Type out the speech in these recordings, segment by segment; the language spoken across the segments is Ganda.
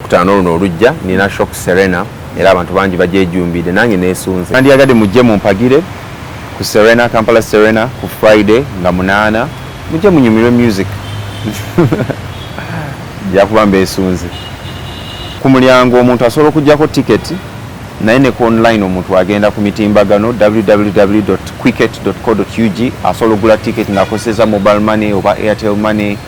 kutaano luno olujja nina shop serena era abantu bangi bagyejumbidde nange nesunze nandiyagadde mujje mumpagire ku serena kampala serena ku friday nga munaana mujje munyumirwe music jakuba mbesunze ku mulyango omuntu asobola okujjako tiketi naye ne ku online omuntu agenda ku mitimbagano www quicket co ug asobola okugula ticket ng'akozeseza mobile money oba airtel money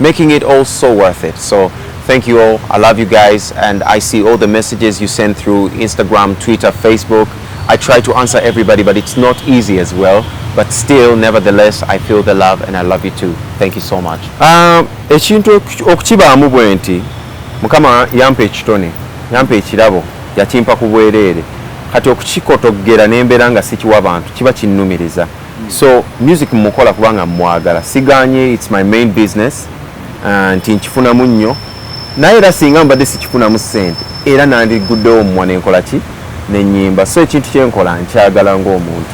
making it all so worth it so thank you all i love you guys and i see all the messages you send through instagram twitter facebook i try to answer everybody but it's not easy as well but still nevertheless i feel the love and i love you too thank you so much um, ekintu okukibaamu bwe nti mukama yampa ekitone yampa ekirabo yakimpa ku bwereere kati okukikotoggera n'embeera nga sikiwa bantu kiba kinnumiriza so music mukola kubanga mwagala siganye its my main business uh, nti nkifunamu nnyo naye era singa mbadde sikifunamu sente era nandiguddewo mumwa nenkola ki nenyimba so ekintu kyenkola nkyagala ngaomuntu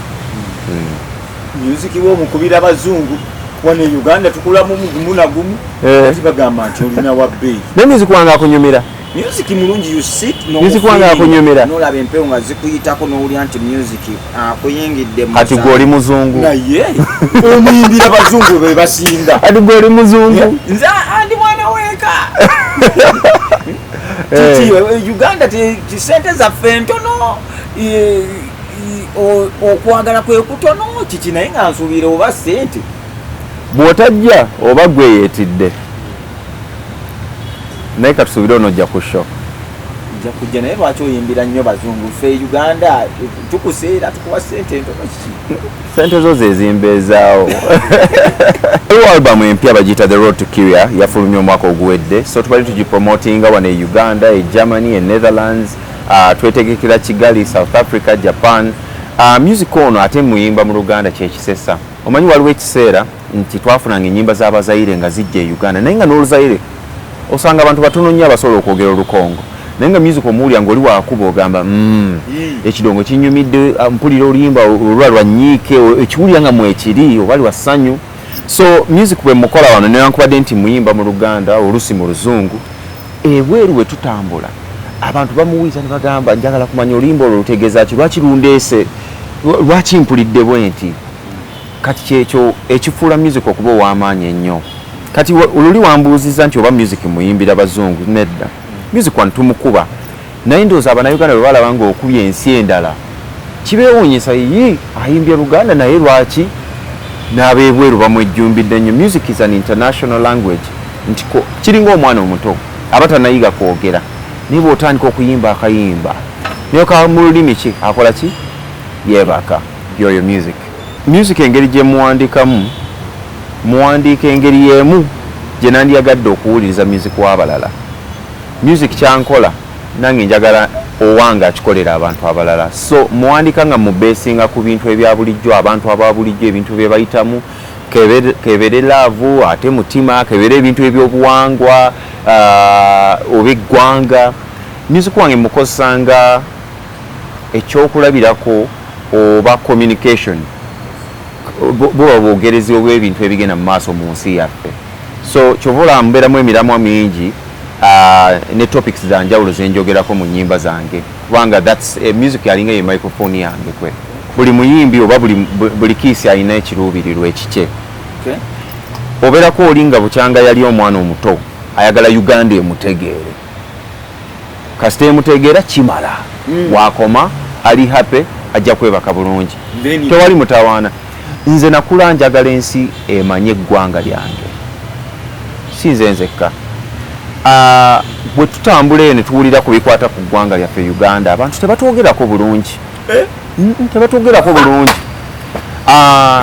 hmm. music wo mukubira bazungu wano e uganda tukulamu mugumu nagumu eh. kati bagamba nti olina wabbeeyi ne music wange akunyumira music mulungi you sit no music wange akunyumira no labe mpeo nga zikuyitako no uli anti music akuyingidde ah, mu kati goli muzungu na ye omuyimbira bazungu be basinda ati goli muzungu nza andi mwana weka eh. titi eh, uganda ti sente za fento no okwagala kwe kutono kiki naye nga nsuubira oba sente bwotajja oba gweyetidde naye katusuubire onojja ku sho nja kujja naye lwaki oyimbira nnyo bazungu fe uganda tukuseera tukuwa sente entono kiki sente zo zezimbeezaawo ewa albamu empya bagiyita the road to kiria yafulumya omwaka oguwedde so tubali tugipromotinga wano e uganda e germany e netherlands uh, twetegekera kigali south africa japan uh, music ono ate muyimba mu luganda kyekisesa omanyi waliwo ekiseera nti twafunanga enyimba za bazayire nga zijja e uganda naye nga n'oluzayire osanga abantu batono nnyo abasobola okwogera olukongo naye nga music omuwulira ngaoli wakuba ogamba mm, ekidongo kinyumidde ah, mpulira oluyimba olwa lwanyiike ekiwulira nga mwekiri oba lwa ssanyu so music bwe mukola wano newankubadde nti muyimba mu luganda olusi mu luzungu ebweru we tutambula abantu bamuwuliza ne bagamba njagala kumanya oluyimba olwo lutegeeza ki lwaki lundeese lwaki mpulidde bwe nti kati kyekyo ekifuula music okuba ow'amaanyi ennyo kati oluli wambuuzizza nti oba music muyimbira bazungu nedda music wano tumukuba naye ndowooza abanauganda bwe balaba ng'okubye ensi endala kibeewuunyisa yii ayimbye luganda naye lwaki n'abeebweru bamwejjumbidde nnyo music is an international language nti kiringa omwana omuto aba tanayiga kwogera naye bw'otandika okuyimba akayimba naye ka mu lulimi ki akola ki yeebaka yoyo music Music engeri gye muwandikamu, muwandiika engeri y'emu gye nandiyagadde okuwuliriza music w'abalala. Music kyankola nange njagala owange akikolera abantu abalala. So muwandika nga mu besinga ku bintu ebya bulijjo, abantu aba bulijjo, ebintu bye bayitamu, kebere laavu, ate mutima, kebere ebintu ebyobuwangwa, uh, oba eggwanga. Music wange mukozesa nga ekyokulabirako oba communication buba bwogerezi obwebintu ebigenda mu maaso mu nsi yaffe so kyova olaba mbeeramu emiramwa mingi uh, ne topics za njawulo zenjogerako mu nyimba zange kubanga thats eh, music yalinga ye microphone yange kwe buli muyimbi oba buli kiisi alina ekiruubirirwa ekikye obeerako oli nga bukyanga yali omwana omuto ayagala uganda emutegeere kasita emutegeera kimala mm. wakoma ali happy ajja kwebaka bulungi tewali mutawaana nze nakula njagala ensi emanye eggwanga lyange si nze nzekka ah, bwe tutambula eno tuwulira ku bikwata ku ggwanga lyaffe uganda abantu tebatwogerako bulungi eh? tebatwogerako bulungi ah,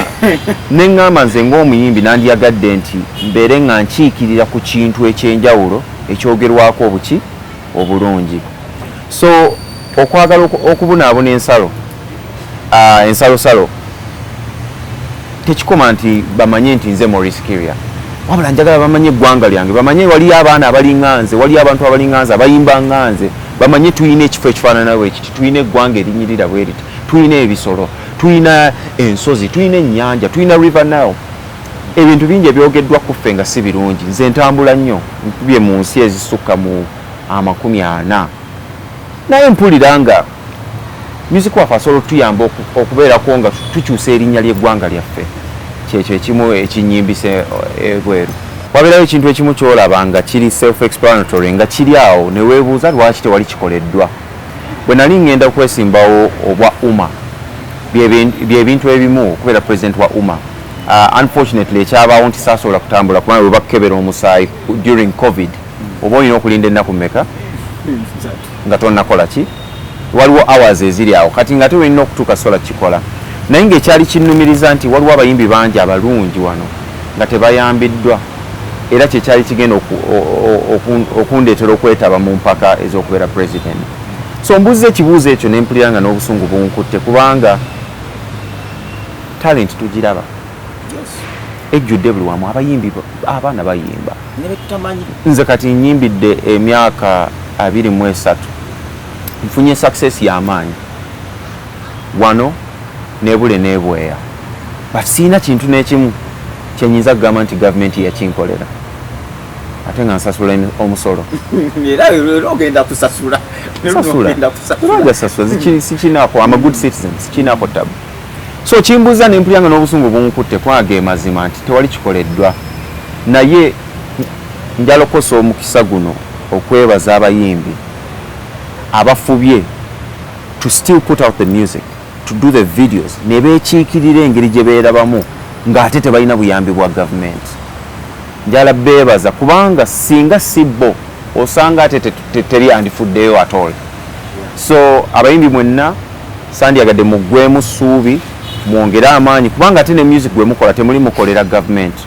neŋŋamba nze ng'omuyimbi nandiyagadde nti mbeere nga nkiikirira ku kintu eky'enjawulo ekyogerwako obuki obulungi so okwagala okubunaabuna ensalo ah, ensalosalo tekikoma nti bamanye nti nze maurice kiria wabula njagala bamanye eggwanga lyange bamanye waliyo abaana abalinga nze waliyo abantu abalinga nze abayimba nga nze bamanye tulina ekifo ekifaanana bwekiti tulina eggwanga erinyirira bweriti tulina ebisolo tulina ensozi tulina ennyanja tulina river nile Ebintu bingi ebyogeddwa ku ffe nga si birungi. Nze ntambula nnyo, nkubye mu nsi ezisukka mu amakumi ana naye mpulira nga myuziki waffe asobola okutuyamba okubeerako nga tukyusa erinnya ly'eggwanga lyaffe. Kyekyo ekimu ekinyimbisa ebweru. Wabeerayo ekintu ekimu ky'olaba nga kiri self-explanatory nga kiri awo ne weebuuza lwaki tewali kikoleddwa? Bwe nali ng'enda okwesimbawo obwa UMA, bye bintu ebimu okubeera pulezidenti wa UMA. Uh, unfortunately ekyabaawo nti saasobola kutambula kubanga bwe bakukebera omusaayi during covid oba olina okulinda ennaku meka nga tonakola ki waliwo hours eziri awo kati nga te olina okutuuka sola kikola naye ngaekyali kinnumiriza nti waliwo abayimbi bangi abalungi wano nga tebayambiddwa era kyekyali kigenda okundeetera okwetaba mu mpaka ez'okubeera president so mbuzza ekibuuzo ekyo nempulira nga n'obusungu bunkutte kubanga talent tugiraba ejjudde buli wamu abayimbi abaana bayimba nze kati nyimbidde emyaka abiri mu esatu nfunye success yamaanyi wano nebule nebweya but siina kintu nekimu kyenyinza kugamba nti gavumenti yakinkolera ate nga nsasula omusolo sikinako amagood citizen sikinako tabu so kimbuza nempulira nga n'obusungu bunkutte kwaga emazima nti tewali kikoleddwa naye njalokosa omukisa guno okwebaza abayimbi abafubye to still put out the music to do the videos ne beekiikirira engeri gye beerabamu ng'ate tebalina buyambi bwa gavumenti njala beebaza kubanga singa si bo osanga ate teri andifuddeyo atol so abayimbi mwenna Sandyagadde muggweemu ssuubi, mwongere amaanyi kubanga ate ne music gwe mukola temuli mukolera gavumenti,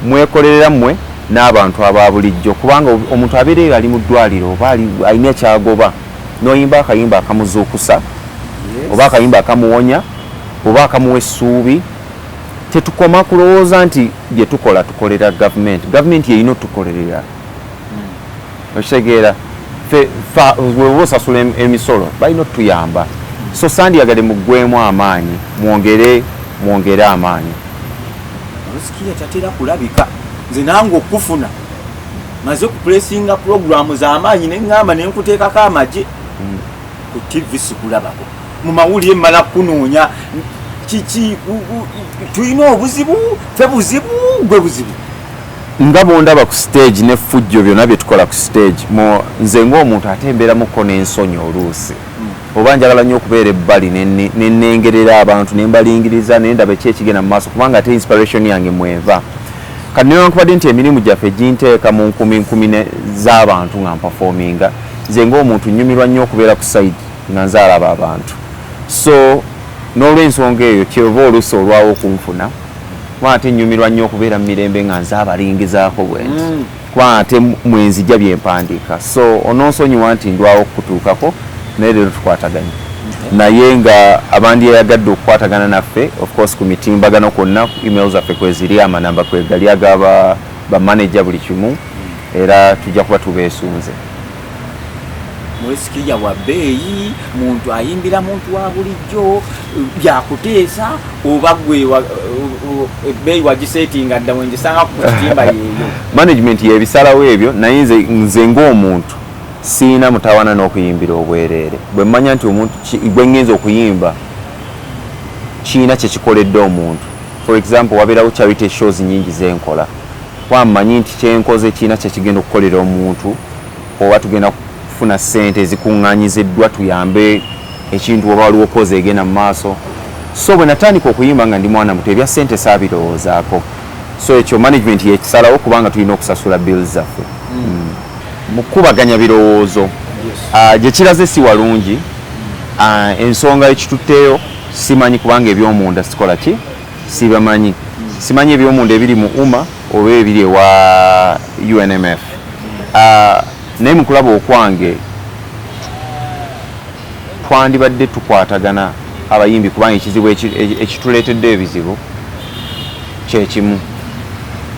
mwekolerera mmwe n'abantu aba bulijjo kubanga omuntu abeera eyo ali mu ddwaliro oba alina kyagoba n'oyimba akayimba akamuzuukusa oba akayimba akamuwonya oba akamuwa essuubi tetukoma kulowooza nti bye tukola tukolera gavumenti gavumenti yeyina otukolerera okitegeera weoba osasula emisolo balina otuyamba so sandiyagade mugwemu amaanyi mwongere mwongere amaanyi musikiya tatera kulabika nze nange okufuna maze kupulesinga pulogulaamu z'amaanyi ne ŋŋamba ne nkuteekako amagye hmm. ku tivi sikulabako mu mawulire mmala kukunoonya kiki tulina obuzibu fe buzibu gwe buzibu Nga bwondaba ku stage ne fujjo byona byetukola ku stage mu nze nga omuntu ate mberamu ko nensonyi oluusi mm. oba njagala nyo okubeera ebbali nenengerera abantu nembalingiriza nendaba eki ekigenda mu maaso kubanga ate inspiration yange mweva kati newankubadde nti emirimu gyaffe ginteeka mu nkumi nkumi z'abantu nga mpafominga nze nga omuntu nyumirwa nyo okubeera ku side nga nze alaba abantu so n'olwensonga eyo kyova oluusi olwawo okunfuna kuba ate nnyumirwa nnyo okubeera mu mirembe nga nze abalingizaako bwenti mm. kuba ate mwenzija bye mpandiika so ononsonyiwa nti ndwawo okukutuukako naye leero tukwataganye naye nga abandyeyagadde okukwatagana naffe ofcourse ku mitimbagano kwonna email zaffe kweziri amanamba kwegali agaba bamanaja buli kimu era tujja kuba tubeesunze mwesikija wa bbeeyi muntu ayimbira muntu wa bulijjo byakuteesa oba gwe ebbeeyi wagisetinga dda wengisanga ku kitimba yeeyo management yebisalawo ebyo naye nze ngaomuntu siina mutawana n'okuyimbira obwereere bwe mmanya nti omuntu gwe ngenza okuyimba kiina kyekikoledde omuntu for example wabeerawo charity shows nyingi zenkola Kuba mmanyi nti kye nkoze kirina kye kigenda okukolera omuntu oba tugenda kufuna ssente ezikuŋŋaanyiziddwa tuyambe ekintu oba waliwo kozi egenda mu maaso. So bwe natandika okuyimba nga ndi mwana muto ebya ssente saabirowoozaako. So ekyo management y'ekisalawo kubanga tulina okusasula bills zaffe. Mm. Mu kukubaganya birowoozo ah, gye kiraze si walungi, ah, ensonga ekitutteyo simanyi kubanga eby'omunda sikola ki. sibamanyi simanyi ebyomunda ebiri mu uma oba ebiri ewa unmf ah, naye mukulaba okwange twandibadde tukwatagana abayimbi kubanga ekizibu ekituleetedde ebizibu kyekimu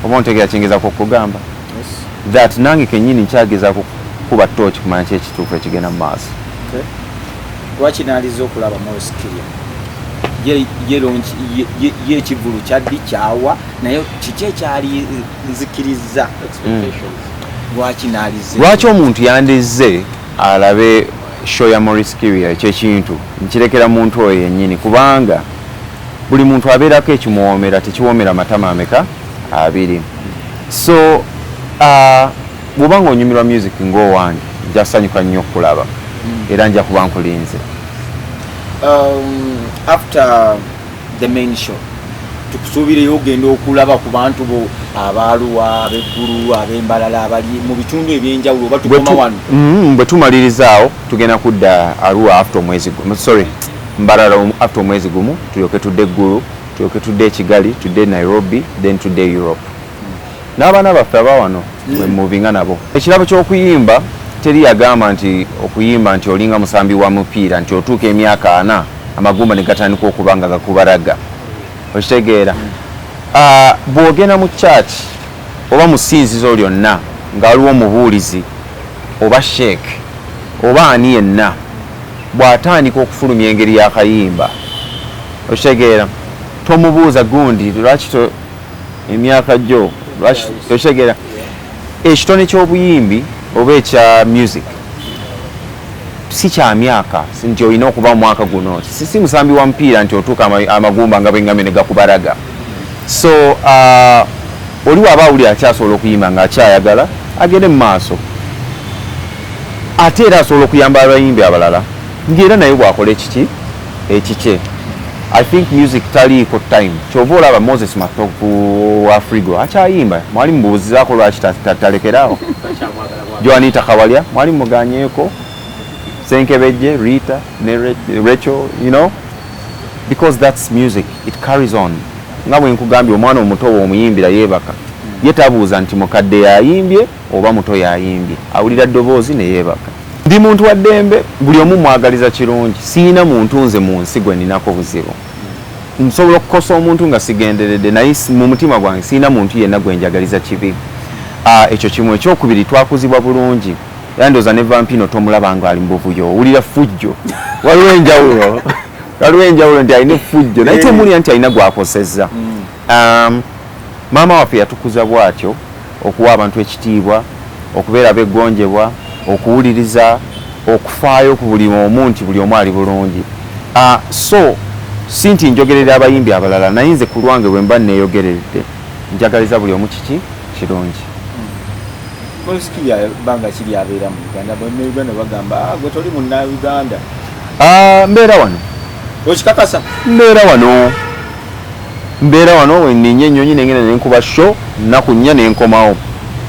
oba ontegera kyengezako okugamba that nange kenyini nkyagezako kuba tooki kumanya kyekituufu ekigenda mu maaso lwaki naliza okulaba Morris Kirya ye ekivulu kyaddi kyawa naye kiki ekyali nzikiriza hmm. lwaki nalize lwaki omuntu yandizze alabe show ya Morris Kirya ekyekintu nkirekera muntu oyo yennyini kubanga buli muntu abeerako ekimuwoomera tekiwoomera matama ameka abiri so uh, Bw'oba ng'onyumirwa myuziki ng'owange nja kusanyuka nnyo okukulaba hmm. era nja kuba nkulinze. Um, after the main show tukusuubireyo ogenda okulaba ku bantu bo abaaluwa abeggulu abembalala abali mu bitundu ebyenjawulo oba tukoma wano mm, bwe tumalirizaawo tugenda kudda aruwa afte omwezi gumu sorry mbalala afte omwezi gumu tulyoke tudde eggulu tulyoke tudde ekigali tudde nairobi then tudde europe N'abaana baffe aba wano mwe mm. muvinga nabo. Ekirabo ky'okuyimba teri yagamba nti okuyimba nti olinga musambi wa mupiira nti otuuka emyaka ana amagumba ne gatandika okuba nga gakubaraga. Okitegeera? Mm. Ah, bw'ogenda mu church oba mu ssinzizo lyonna nga waliwo omubuulizi oba sheek oba ani yenna bw'atandika okufulumya engeri y'akayimba okitegeera tomubuuza gundi lwaki emyaka gyo lwaki tokitegera ekitone ky'obuyimbi oba ekya music si kya myaka nti olina okuba omwaka guno si musambi wa mupiira nti otuuka amagumba nga bwengambye ne gakubaraga so uh, oli waba awulira akyasobola okuyimba nga akyayagala agende mu maaso ate era asobola okuyamba abayimbi abalala ngaera naye bwakola ekiki ekikye i think music taliiko time kyova olaba moses matovu wa frigo akyayimba mwali mubuuzizaako lwaki talekeraawo joanita kawalya mwali muganyeeko senkebejje rita ne rachel you know because that's music it carries on nga bwe nkugambye omwana omuto woomuyimbira yeebaka ye tabuuza nti mukadde yayimbye oba muto yayimbye awulira ddoboozi ne yeebaka Ndi muntu wa ddembe, buli omu mwagaliza kirungi. Sirina muntu nze mu nsi gwe ninako buzibu. Nsobola okukosa omuntu nga sigenderedde naye mu mutima gwange sirina muntu yenna gwe njagaliza kibi. Ah, ekyo kimu. Ekyokubiri twakuzibwa bulungi era ndowooza ne Vampino tomulaba ng'ali mu buvuyo, owulira ffujjo. Waliwo enjawulo, waliwo enjawulo nti alina effujjo naye tomuwulira nti alina gw'akosezza. Um, maama waffe yatukuza bwatyo okuwa abantu ekitiibwa okubeera beggonjebwa okuwuliriza okufaayo ku buli omu nti buli omu ali bulungi uh, so si nti njogerera abayimbi abalala naye nze ku lwange bwe mba neeyogeredde njagaliza buli omu kiki kirungi mbeera wano mbeera wano Mbeera wano wenninnya ennyonyi nengenda nenkuba show nnaku nnya nenkomawo.